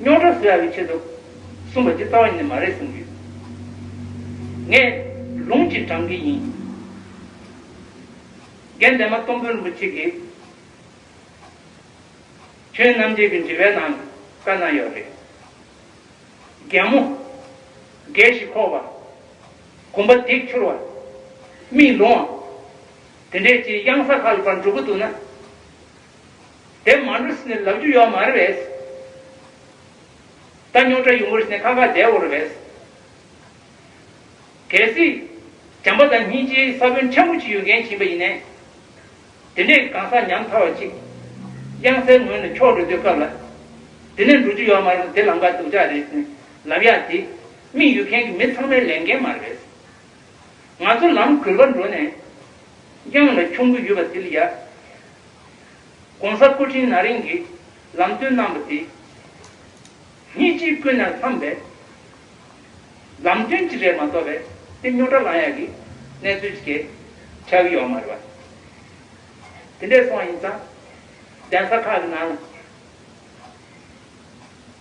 རྙོག་དྲ་བཟོ་ཡག་གི་ཆེད་དུ་གསུངས་པ་ཇི་ལྟ་བ་ཡིན་ནི་མ་རེད་གསུངས་ཀྱི་ཡོད། ངས་ལུང་གཅིག་དྲངས་ཀྱི་ཡིན། རྒན་འདན་མ་སྟོང་དཔོན་རིན་པོ་ཆེ་གིས་ཁྱོད་རྣམ་རྒྱལ་གྱི་འདྲི་བའི་ནང་བཀའ་གནང་ཡོད་རེད། རྒན་མོ། རྒས་ཤིང་ཁོག་བ། གོམ་པ་འདེགས་འཁྱུར་བ། མིག་ལོང་བ། དེ་འདྲས་ཀྱི་གཡང་ས་ཁག་གི་བར་འགྲོ་གི་འདུག་ན། དེ་མ་འགྲོ་ཟིན་ནས་ལབ་རྒྱུ་ཡོད་མ་རེད་བས། ད་རྙོག་དྲ་ཡོང་གི་རེད་ཟིན་ནས་ཁ་ཁ་བསྡད་འོང་རེད་བས། གལ་སྲིད། བྱམས་པ་དང་སྙིང་རྗེའི་ས་བོན་ཕྲན་བུ་ཅིག་ཡོད་མཁན་བྱིན་པ་ཡིན་ནས། དེ་འདྲའི་གང་ཟག་ཉམ་ཐག་བ་ཅིག། དབྱངས་གསལ་ངོས་ནས་འཁྱོག་འགྲོ་འདོད་སྐབས་ལ། དེ་ནས་འགྲོ་རྒྱུ་ཡོད་མ་རེད་དེ་ལམ་ཀ་སྡུག་ཅག་རེད་ཟིན་ནས་ལབ་ཡག་དེ། མིག་ཡོད་མཁན་གྱི་མི་ཚང་མའི་ལས་འགན་མ་རེད་བས། ང་ཚོ་ལམ་གུར་པར་འགྲོ་ནས། དབྱངས་ལ་འཁྱོང་གི་ཡོད་པ་དེ་ལ་ཡག། ྋགོང་ས་སྐུ་ཕྲེང་ན་རིང་གིས་ལམ་སྟོན་གནང་བ་དེ་སྙིང་རྗེའི་ཀུན་ནས་བསླངས་པའི་ལམ་སྟོན་ཅིག་རེད་མ་གཏོགས་པའི་དཔེ་རྙོག་དྲ་ལངས་ཡག་གི་གནས་ཚུལ་ཅིག་གས་ཆ་གི་ཡོག་མ་རེད་པ། དེ་འདྲས་སོང་བ་ཡིན་ཙང་གདན་ས་ཁག་གི་ནང་ལ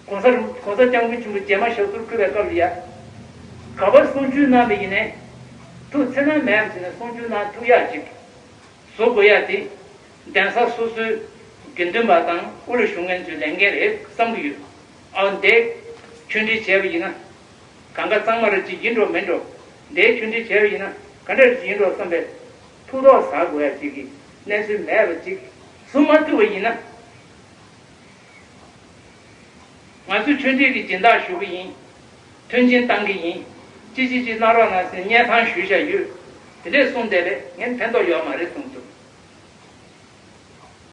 ྋགོང་ས་རིན ྋགོང་ས་སྐྱབས་མགོན་ཆེན་པོ་རྗེས་མ་ཞབས་སོར་འཁོད་པའི་སྐབས་ལ་ཡག་ག་པར་གསུང་ཆོས་གནང་བས་ཡིན་ནས་ཐུགས་འཚེར་སྣང་མེད་ཨམ་ཟེར་ནས་གསུང་ཆོས་གནང་ཐུགས་ཡག་ཅིག་བཟོ་དགོས་ཡ་དེ། གདན་ས་སོ་སོའི་དགེ་འདུན་པ་དང་དབུས་ལ་བཞུགས་མཁན་ཚོའི་ལས་འགན་རེད་བསམ་གྱི་ཡོད། ཨའོ་འདས། ཆོས་འབྲེལ་བྱས་པ་ཡིན་ན། གང་ག་གཙང་མ་རེད་ཅིག་ཡིན་འགྲོ་མིན་འགྲོ། འདས་ཆོས་འབྲེལ་བྱས་པ་ཡིན་ན་ག་འདྲ་རེད་ཅིག་ཡིན་འགྲོ་བསམ་པའི། ཐུགས་དོགས་ཟ་དགོས་ཡ་ཅིག་གི་གནས་ཚུལ་མེད་པ་ཅིག་བཟོ་མ་ཐུབ་པ་ཡིན་ན། ང་ཚོས་ཆོས་འབྲེལ་གྱི་སྦྱིན་བདག་ཞུ་གི་ཡིན། མཐུན་རྐྱེན་གཏང་གི་ཡིན། ཅི་ཅི་ཅི་གནང་རོགས་གནང་ཟེར་བརྙན་ཐང་ཞུས་བཞག་ཡོད། དེ་ལས་གསུངས་བསྡད་པས་ངས་ཕན་ཐོགས་ཡོད་མ་རེད་གསུངས་ཐུབ།